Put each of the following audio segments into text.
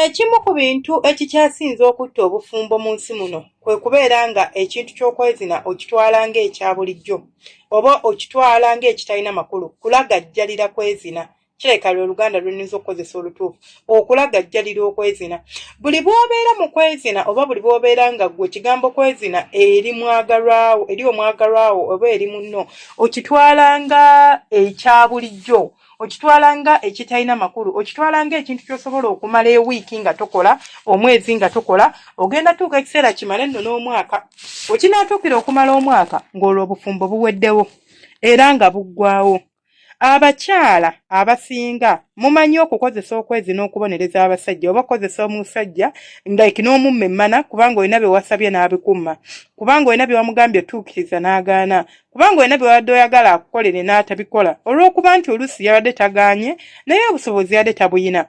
Ekimu ku bintu ekikyasinze okutta obufumbo mu nsi muno kwe kubeera nga ekintu ky'okwezina okitwala ng'ekya bulijjo oba okitwala ng'ekitalina makulu kulagajjalira kwezina kirabika lwe oluganda lwennyinza okukozesa olutuufu okulagajjalira okwezina buli bwobeera mu kwezina oba buli bwobeera nga gwe ekigambo kwezina eri mwagalwawo eri omwagalwawo oba eri munno okitwala nga ekya bulijjo okitwala nga ekitalina makulu okitwala nga ekintu kyosobola okumala ewiiki nga tokola omwezi nga tokola ogenda tuuka ekiseera kimale nno n'omwaka wekinaatuukira okumala omwaka ng'olwo obufumbo buweddewo era nga buggwawo Abakyala abasinga mumanyi okukozesa okwezi n'okubonereza abasajja oba okukozesa omusajja like n'omumma emmana kubanga olina bye wasabye n'abikuma kubanga olina bye wamugambye otuukiriza n'agaana kubanga olina bye wabadde oyagala akukolere n'atabikola olw'okuba nti oluusi yabadde tagaanye naye obusobozi yabadde tabuyina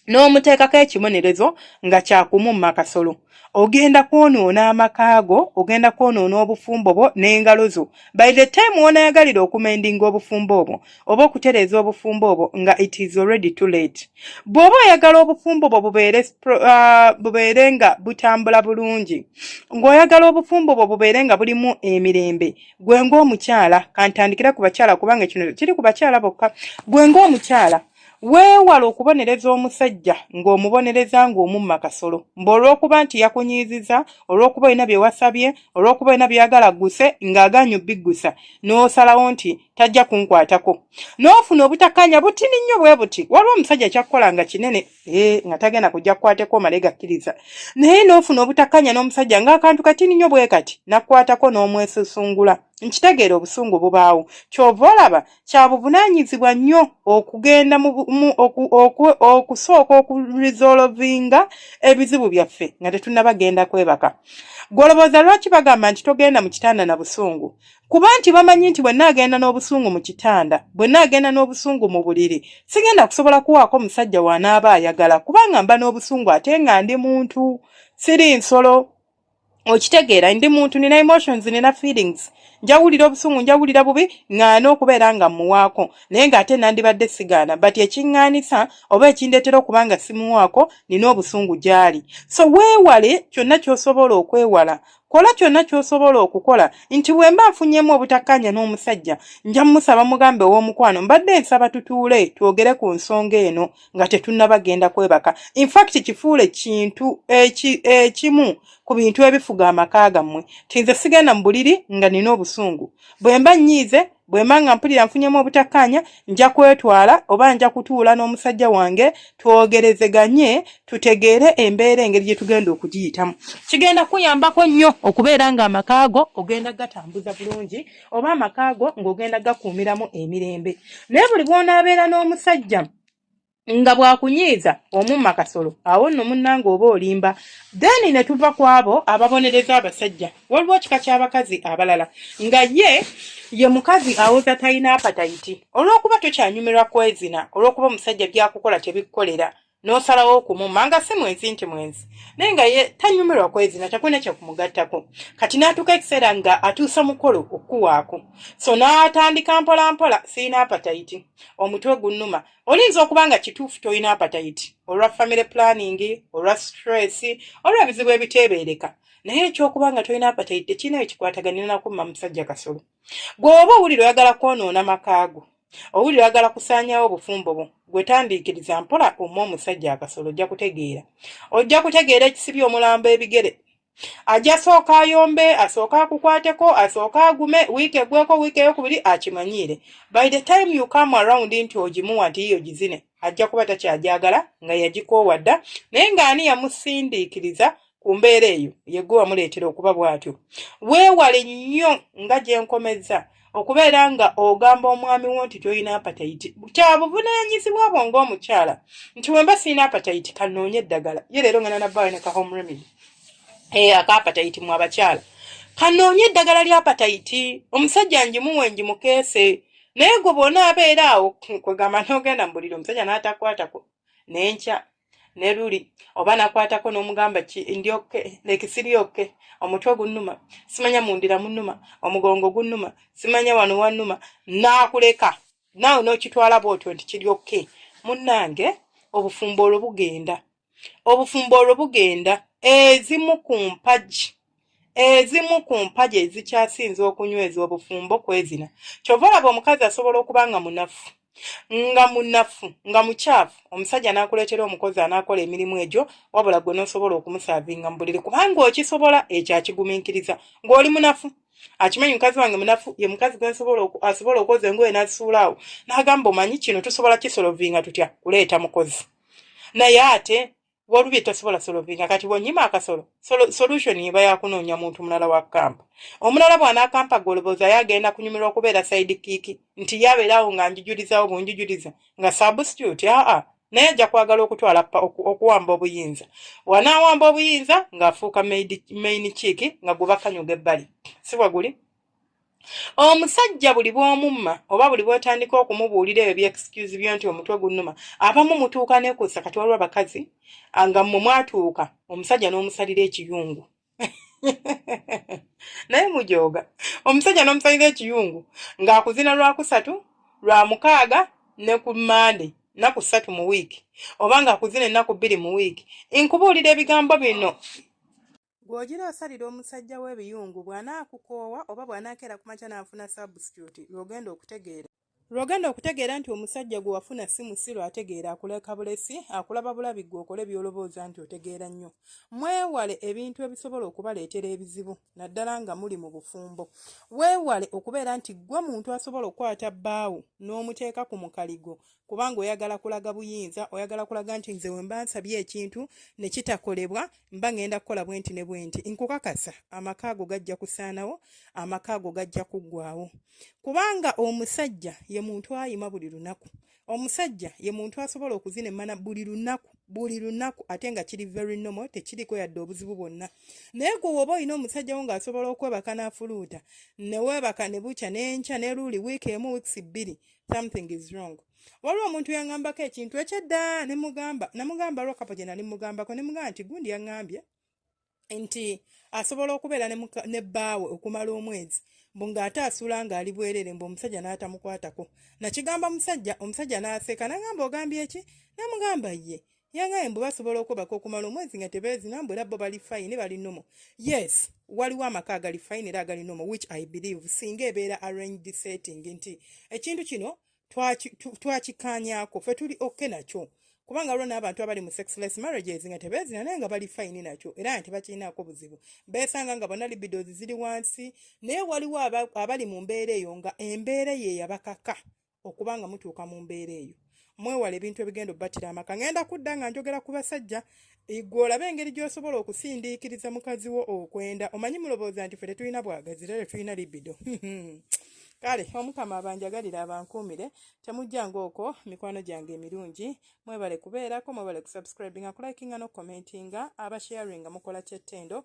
n'omuteekako ekibonerezo nga kyakumumma kasolo ogenda kwonoona amaka go ogenda kwonoona obufumbo bwo n'engalo zo by the time wonayagalira okumendinga obufumbo obwo oba okutereeza obufumbo obwo nga it is already too late bw'oba oyagala obufumbo bwo bubeere uh, bubeere nga butambula bulungi ng'oyagala obufumbo bwo bubeere nga bulimu emirembe gwe ng'omukyala kantandikira ku bakyala kubanga kino kiri ku bakyala bokka gwe ng'omukyala Weewale okubonereza omusajja ng'omubonereza ng'omumma kasolo mbu olw'okuba nti yakunyiiziza, olw'okuba olina bye wasabye, olw'okuba olina by'oyagala agguse ng'agaanyi obbiggusa n'osalawo nti tajja kunkwatako. N'ofuna obutakkaanya butini nnyo bwe buti. Waliwo omusajja kyakkola nga kinene ee nga tagenda kujja kukwateko omale gakkiriza. Naye n'ofuna obutakkaanya n'omusajja ng'akantu katini nnyo bwe kati n'akukwatako n'omwesusungula. Nkitegeera obusungu bubaawo. Ky'ova olaba kya buvunaanyizibwa nnyo okugenda okusooka okurizolovinga ebizibu byaffe nga tetunnaba genda kwebaka gwolowooza lwaki bagamba nti togenda mu kitanda na busungu kuba nti bamanyi nti bwe naagenda n'obusungu mu kitanda bwe naagenda n'obusungu mu buliri sigenda kusobola kuwaako musajja w'anaaba ayagala kubanga mba n'obusungu ate nga ndi muntu siri nsolo okitegeera ndi muntu nina emotions nina feelings njawulira obusungu njawulira bubi ŋŋaana okubeera nga mmuwaako naye ng'ate nandibadde sigaana but ekiŋŋaanisa oba ekindeetera okuba nga simuwaako nina obusungu gy'ali so weewale kyonna ky'osobola okwewala kola kyonna ky'osobola okukola nti bwe mba nfunyemu obutakkaanya n'omusajja nja mumusaba mugambe ow'omukwano mbadde nsaba tutuule twogere ku nsonga eno nga tetunnaba genda kwebaka infact kifuule kintu ekimu eki ku bintu ebifuga amaka gammwe tinze sigenda mu buliri nga nina obusungu bwe mba nnyiize bwe mba nga mpulira nfunyemu obutakkaanya nja kwetwala oba nja kutuula n'omusajja wange twogerezeganye tutegeere embeera engeri gye tugenda okugiyitamu kigenda kuyambako nnyo okubeera ng'amaka go ogenda gatambuza bulungi oba amaka go ng'ogenda gakuumiramu emirembe naye buli bw'onaabeera n'omusajja nga bwakunyiiza omumma kasolo awo nno munnanga oba olimba then ne tuva ku abo ababonereza abasajja waliwo kika ky'abakazi abalala nga ye ye mukazi awoza talina apatayiti olw'okuba tokyanyumirwa kwezina olw'okuba omusajja byakukola tebikukolera n'osalawo okumumma nga si mwenzi nti mwenzi naye nga ye tanyumirwa kwezina takulina kyekumugattako kati n'atuuka ekiseera nga atuusa mukolo okukuwaako so n'atandika mpolampola sirina apatayiti omutwe gunnuma olinza okuba nga kituufu tolina apatayiti olwa family planning olwa stress olwa ebizibu ebiteebeereka naye ekyokuba nga tolina apatayiti tekirina ekikwataganira nakumma musajja kasolo gw'oba owulira oyagala kwonoona makaago owulira oyagala kusaanyawo obufumbo bwo gwetandiikiriza mpola omu omusajja akasolo ojja kutegeera ojja kutegeera ekisibi omulambo ebigere ajja sooka ayombe asooka akukwateko asooka agume wiiki egweko wiiki eyokubiri akimanyiire by the time you come around nti ogimuwa nti yiyo gizine ajja kuba takyagyagala nga yagikoowa dda naye ng'ani yamusindiikiriza ku mbeera eyo yegwe wamuleetera okuba bw'atyo weewale nnyo nga gye nkomezza okubeera nga ogamba omwami wo nti tolina apatayiti kya buvunaanyizibwa bwo ng'omukyala nti wemba sirina apatayiti kanoonye eddagala ye leero ngana nabbaawe ne ka home remedy ee eh, akaapatayiti mu abakyala kanoonye eddagala ly'apatayiti omusajja njimuwe njimukeese naye gwe bwonaabeera awo kwegamba nogenda mubuliri omusajja n'atakwatako nenkya ne luli oba nakwatako n'omugamba ki ndi oke nekisiri oke omutwe gunnuma simanya mundira munnuma omugongo gunnuma simanya wano wannuma naakuleka naawe n'okitwala bwotyo nti kiri oke munnange obufumbo olwo bugenda obufumbo olwo bugenda ezimu ku mpagi ezimu ku mpagi ezikyasinza okunyweza obufumbo kwezina kyova olaba omukazi asobola okuba nga munafu nga munafu nga mukyafu omusajja n'akuleetera omukozi anaakola emirimu egyo wabula gwe n'osobola okumusaavinga mu buliri kubanga okisobola ekyo akigumiikiriza ng'oli munafu akimanyi mukazi wange munafu ye mukazi gwe asobola okwoza engoye n'azisuulaawo n'agamba omanyi kino tusobola kisolovinga tutya kuleeta mukozi naye ate walubi tosobola solovinga kati bwonyima akasolo solution eba yakunoonya muntu mulala wa kampa omulala bwanakampa golobooza ye agenda kunyumirwa okubeera saidi kiiki nti yabeerawo nga njujulizawo bunjujuliza nga substitute aa naye ajja kwagala okutwala okuwamba obuyinza wanawamba obuyinza ng'afuuka main kiiki nga gwe bakanyuga ebbali sibwe guli Omusajja buli bw'omumma oba buli bw'otandika okumubuulira ebyo by'excuse byo nti omutwe gunnuma, abamu mutuuka ne kussa kati waliwo abakazi nga mmwe mwatuuka omusajja n'omusalira ekiyungu naye mujooga omusajja n'omusalira ekiyungu ng'akuzina lwakusatu lwa mukaaga ne ku mmande nnaku ssatu mu wiiki oba ng'akuzina ennaku bbiri mu wiiki nkubuulira ebigambo bino Gw'ogira osalira omusajja we ebiyungu bw'anaakukoowa oba bw'anaakeera ku makya n'afuna substitute lw'ogenda okutegeera lw'ogenda okutegeera nti omusajja gwe wafuna si musiru ategeera akuleka bulesi akulaba bulabi gwe okole by'olobooza nti otegeera nnyo mwewale ebintu ebisobola okubaleetera ebizibu naddala nga muli mu bufumbo weewale okubeera nti ggwe muntu asobola okukwata bbaawo n'omuteeka ku mukaligo kubanga oyagala kulaga buyinza oyagala kulaga nti nze wemba nsabye ekintu ne kitakolebwa mba ngenda kukola bwenti ne bwenti nkukakasa amaka ago gajja kusaanawo amaka ago gajja kuggwawo kubanga omusajja ye muntu ayima buli lunaku omusajja ye muntu asobola okuzina emmana buli lunaku buli lunaku ate nga kiri very normal tekiriko yadde obuzibu bwonna naye gwe woba olina omusajja wo ng'asobola okwebaka n'afuluuta neweebaka ne bukya n'enkya ne luuli wiiki emu wiikisi bbiri something is wrong waliwo omuntu yaŋambako ekintu ekyedda nemugamba namugamba lwa kapo gye nali mugambako nemugamba nti gundi yaŋambye nti asobola okubeera ne bbaawe okumala omwezi mbu ng'ate asuula ng'ali bwerere mbu omusajja n'atamukwatako nakigamba musajja omusajja n'aseka nagamba ogambye eki namugamba ye yangaye mbu basobola okwebaka okumala omwezi nga tebeezina mbu era bo bali fayini bali nomo yes waliwo amaka agali fayini era agali nomo which i believe singa ebeera arranged setting nti ekintu kino twakikaanyako fe tuli oke nakyo kubanga waliwo n'abantu abali mu sexless marriages nga tebeezina naye nga bali fayini nakyo era nga tebakirinaako buzibu beesanga nga bona libidos ziri wansi naye waliwo abali mu mbeera eyo nga embeera eyo eyabakaka okuba nga mutuuka mu mbeera eyo mwewala ebintu ebigenda obubatira amaka ngenda kudda nga njogera ku basajja Igwe olaba engeri gy'osobola okusindiikiriza mukazi wo okwenda omanyi mulowooza nti fe tetulina bwagazi era tetulina libido kale omukama abanjagalira abankuumire temujjanga okwo mikwano gyange emirungi mwebale kubeerako mwebale kusubscribinga kulikinga n'okukomentinga abasharinga mukola kyettendo